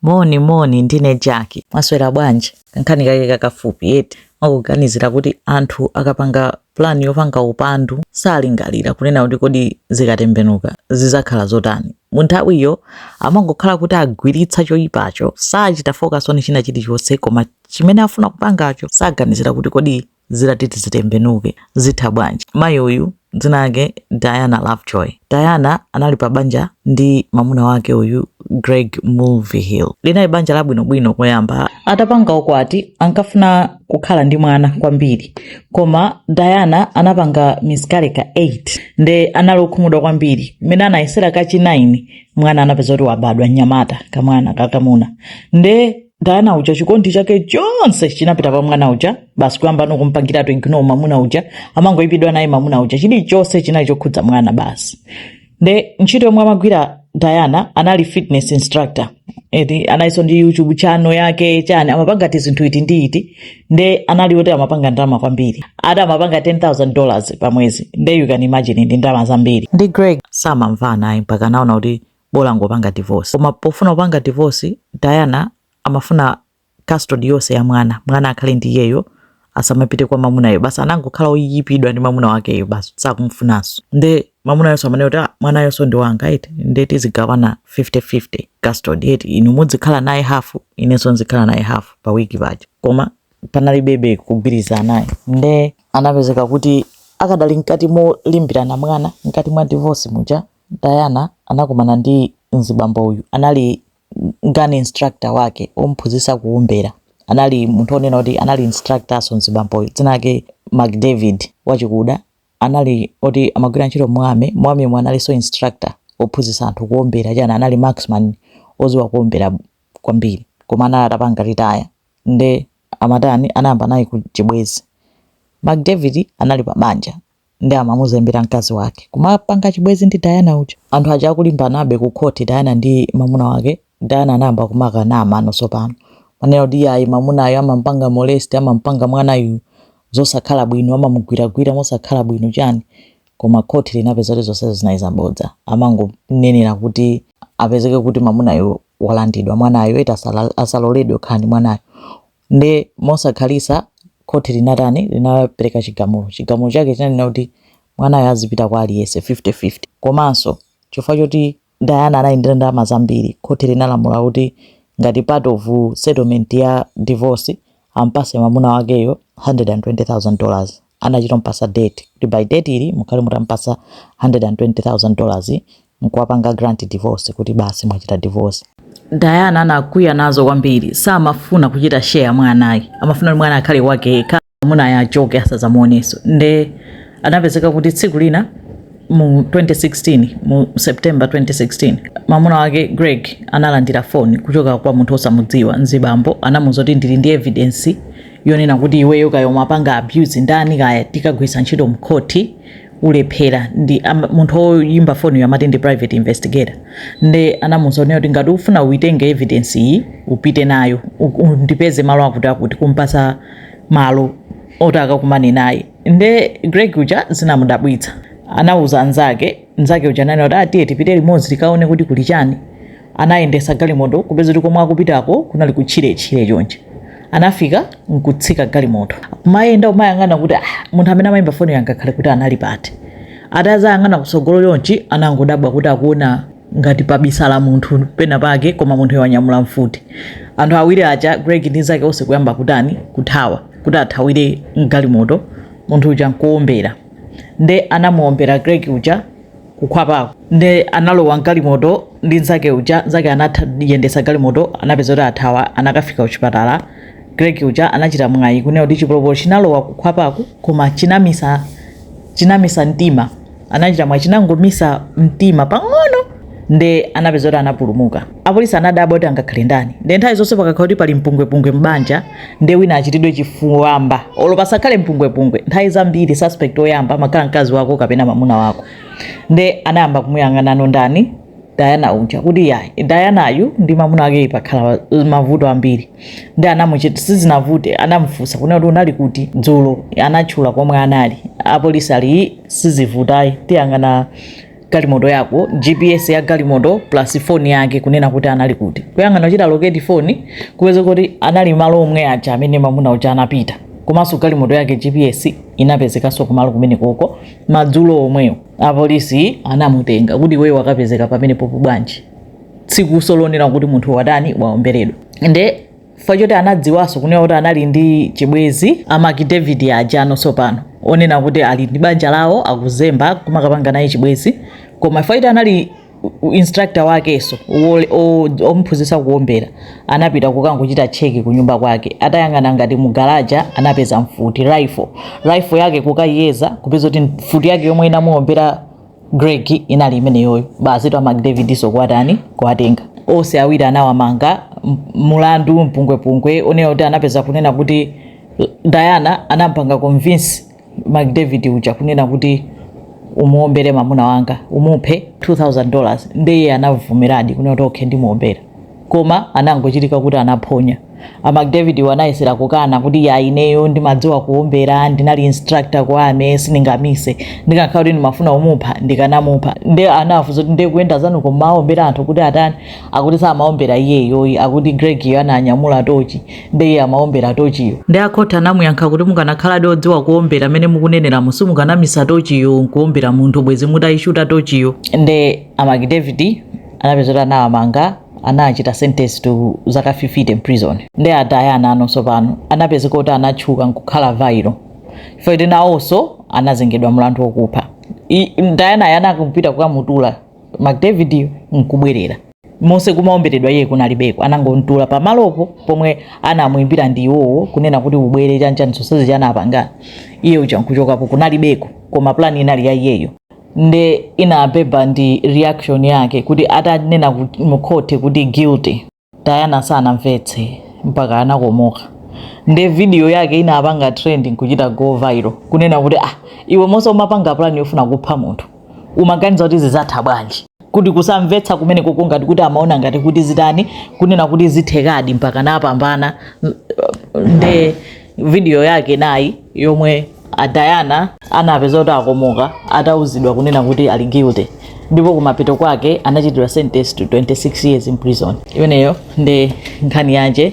Moni moni, ndine Jaki. Mwaswera bwanji? Kankhani kake kakafupi eti mwakuganizira kuti anthu akapanga plan yopanga upandu salingalira kunena kuti kodi zikatembenuka zizakhala zotani. Mu nthawiyo amangokhala kuti agwiritsa choyipacho, sachita focus on china chilichonse koma chimene afuna kupangacho saganizira kuti kodi zitati ziti zitembenuke zitha bwanji? Mayi uyu dzina lake Diana Lovejoy. Diana anali pa banja ndi mamuna wake uyu Greg Mulvihill. Linali banja labwinobwino koyamba. Atapanga ukwati ankafuna kukhala ndi mwana kwambiri, koma Diana anapanga miscarriage ka 8 nde anali okhumudwa kwambiri. Mmene anayesera kachi 9 mwana anapeza kuti wabadwa mnyamata, kamwana kakamuna nde Diana uja chikondi chake chonse chinapita pa mwana uja basi kuyamba nokumpangira to ignore mamuna uja amangoipidwa naye mamuna uja chilichonse chinali chokhudza mwana basi nde ntchito yomwe amagwira diana anali fitness instructor eti analiso ndi youtube channel yake chani amapanga ti zinthu iti ndi iti nde anali oti amapanga ndalama kwambiri ati amapanga 10000 dollars pa mwezi nde you can imagine ndi ndalama zambiri ndi greg samamvana ayi mpaka anaona kuti bola angopanga divorce. Koma pofuna kupanga divorce, Diana amafuna custody yonse ya mwana, mwana akhale ndi iyeyo asamapite kwa mamunayo basi anangokhala oyipidwa ndi mamuna wakeyo basi sakumfunanso nde mamunayonso amanena kuti ah, mwanayonso ndi wanga eti nde tizigawana 50-50 custody eti inu mudzikhala naye hafu inenso nzikhala naye hafu pa wiki paja koma panalibebe kugwirizana ayi nde anapezeka kuti akadali mkati molimbirana mwana mkati mwa divorce muja Diana anakumana ndi mzibambo uyu anali gun instructor wake omuphunzitsa kuombera anali munthu onena kuti anali instructorso mzibamboyu dzina lake McDavid wachikuda anali oti amagwira ntchito mu army, mu army-mo analiso instructor ophunzitsa anthu kuombera chani anali marksman odziwa kuombera kwambiri koma anali atapanga retire nde amatani anayamba naye chibwezi McDavid anali pa banja nde amamuzembera mkazi wake kumapanga chibwezi ndi Diana uja. Anthu aja akulimbanabe ku khoti Diana ndi mamuna wake. Diana anayamba kumanena mabodza tsopano. Manena kuti ayi mamunayo amampanga molest amampanga mwanayu zosakhala bwino amamugwiragwira mosakhala bwino chani. Koma khoti linapeza kuti zonsezo zinali zabodza. Amangonenera kuti apezeke kuti mamunayo walandidwa mwanayo eti asala- asaloledwe kukhala ndi mwanayo. Nde mosakhalitsa khoti linatani? Linapereka chigamulo. Chigamulo chake chinanena kuti mwanayo azipita kwa aliyense 50 50. Komanso chifukwa choti Diana anali ndi ndalama zambiri, khoti linalamula kuti ngati part of settlement ya divorce ampatse mamuna wakeyo 120,000 dollars. anachita kumupasa date kuti by date iyi mukhale mutamupasa 120,000 dollars nkuwapanga grant divorce kuti basi mwachita divorce. Diana anakwiya nazo kwambiri, samafuna kuchita share mwanayi, amafuna kuti mwana akhale wake yekha, mamunayo achoke asazamuoneso. Nde anapezeka kuti tsiku lina mu 2016 mu September 2016 mamuna wake Greg analandira foni kuchoka kwa munthu osamudziwa mzibambo, anamuuza kuti ndili ndi evidence yonena kuti iweyo kaya umapanga abuse ndani kaya tikagwiritsa ntchito mkhoti ulephera nde munthu oyimba foniyo amati ndi private investigator nde anamuuza onena kuti ngati ufuna uitenge evidence iyi upite nayo ndipeze malo akuti akuti kumpasa malo oti akakumane naye nde greg uja zinamudabwitsa anauza anzake nzake uja anati atiye ah, tipite limodzi tikaone kuti kuli chani anayendesa galimoto kupeza kuti komwe akupitako kunali kutchiretchire chonchi anafika nkutsika galimoto kumayenda kumayang'ana kuti ah, munthu amene amayimba foniyu angakhale kuti anali pati atazayang'ana kutsogolo chonchi anangodabwa kuti akuona ngati pabisala munthu pena pake koma munthu wanyamula mfuti anthu awiri aja greg ndi nzake onse kuyamba kutani kuthawa kuti athawire mgalimoto munthu uja nkuombera nde anamuombera greg uja kukhwapako nde analowa mgalimoto ndi nzake uja nzake anayendesa galimoto anapeza kuti athawa anakafika kuchipatala greg uja anachita mwayi kunena kuti chipolopolo chinalowa kukhwapako koma chinamisa chinamisa mtima anachita mwayi chinangomisa mtima pang'ono nde anapeza kuti anapulumuka apolisi anadabwa kuti angakhale ndani nde nthawi zonse pakakhala kuti pali mpungwepungwe m'banja nde wina achitidwe chifuwamba olo pasakhale mpungwepungwe nthawi zambiri suspect oyamba amakhala mkazi wako kapena mamuna wako nde anayamba kumuyang'anano ndani dayana uja kuti yayi dayanayu ndi mamuna wake pakhala mavuto ambiri nde anamuchita sizinavute anamufunsa kunena kuti unali kuti dzulo anatchula komwe anali apolisi ali sizivutayi tiyang'ana galimoto yako gps ya galimoto plus phone yake kunena kuti anali kuti kuyang'ana kuchita locate phone kupeza kuti anali malo omwe aja amene mamuna uja anapita komanso galimoto yake gps inapezekanso kumalo kumene koko madzulo omwewo apolisi anamutenga kuti iweyo wakapezeka pamene popo bwanji tsiku losonena kuti munthu watani waomberedwa nde chifukwa choti anadziwanso kunena kuti anali ndi chibwezi a Mark David ajano tsopano onena kuti ali ndi banja lawo akuzemba kumakapanga naye chibwezi koma chifukwa choti anali instructor wakenso omuphunzitsa kuombera anapita kukangochita cheki kunyumba kwake atayang'ana ngati mugalaja anapeza mfuti rifle rifle yake kukayiyeza kupeza kuti mfuti yake yomwe inamuombera Greg inali imeneyoyo basitu a Mark David so kwatani kwatenga onse awiri anawamanga mulandu mpungwepungwe onena kuti anapeza kunena kuti Diana anampanga convince Mark David uja kunena kuti umuombere mamuna wanga umuphe 2000 dollars ndiye anavomeradi kunena kuti okay ndimuombera koma anangochitika kuti anaphonya a Mark David iwo anayesera kukana kuti ya ineyo ndimadziwa kuombera ndinali instructor ku army sindingamise ndikakhala kuti ndimafuna kumupha ndikanamupha nde anafuza kuti nde kuyenda zanu kumaombera anthu kuti atani akuti samaombera iyeyo akuti greg yo ananyamula tochi nde iye amaombera tochiyo nde akhoti anamuyankha kuti mukanakhaladi odziwa kuombera amene mukuneneramo simukanamisa tochiyo nkuombera munthu bwezi mutayishuta tochiyo nde a Mark David anapezeka kuti anawamanga anachita sentence to zaka 50 in prison nde a Diana nawonso pano anapezeka kuti anatchuka nkukhala viral chifukwa kuti nawonso anazengedwa mlandu wokupha Diana yo anangopita kukamutula Mark David nkubwerera monse kumaomberedwa iye kunalibeko anangomtula pamalopo pomwe anamuimbira ndi iwowo kunena kuti ubwere chanchani zonsezi chanapangana iye uja nkuchokapo kunalibeko koma plani inali ya iyeyo nde inabeba ndi reaction yake kuti atanena mu court kuti guilty diana sanamvetse mpaka anakomoka nde video yake inapanga trending nkuchita go viral kunena kuti ah iwe monse umapanga plan yofuna kupha munthu umaganiza kuti zizatha bwanji kuti kusamvetsa kumenekoko ngati kuti amaona ngati kuti zitani kunena kuti zithekadi mpaka napambana nde video yake nayi yomwe a Diana anapezeka kuti akomoka atauzidwa kunena kuti ali guilty ndipo kumapeto kwake anachitidwa sentence to 26 years in prison imeneyo ndi nkhani yanje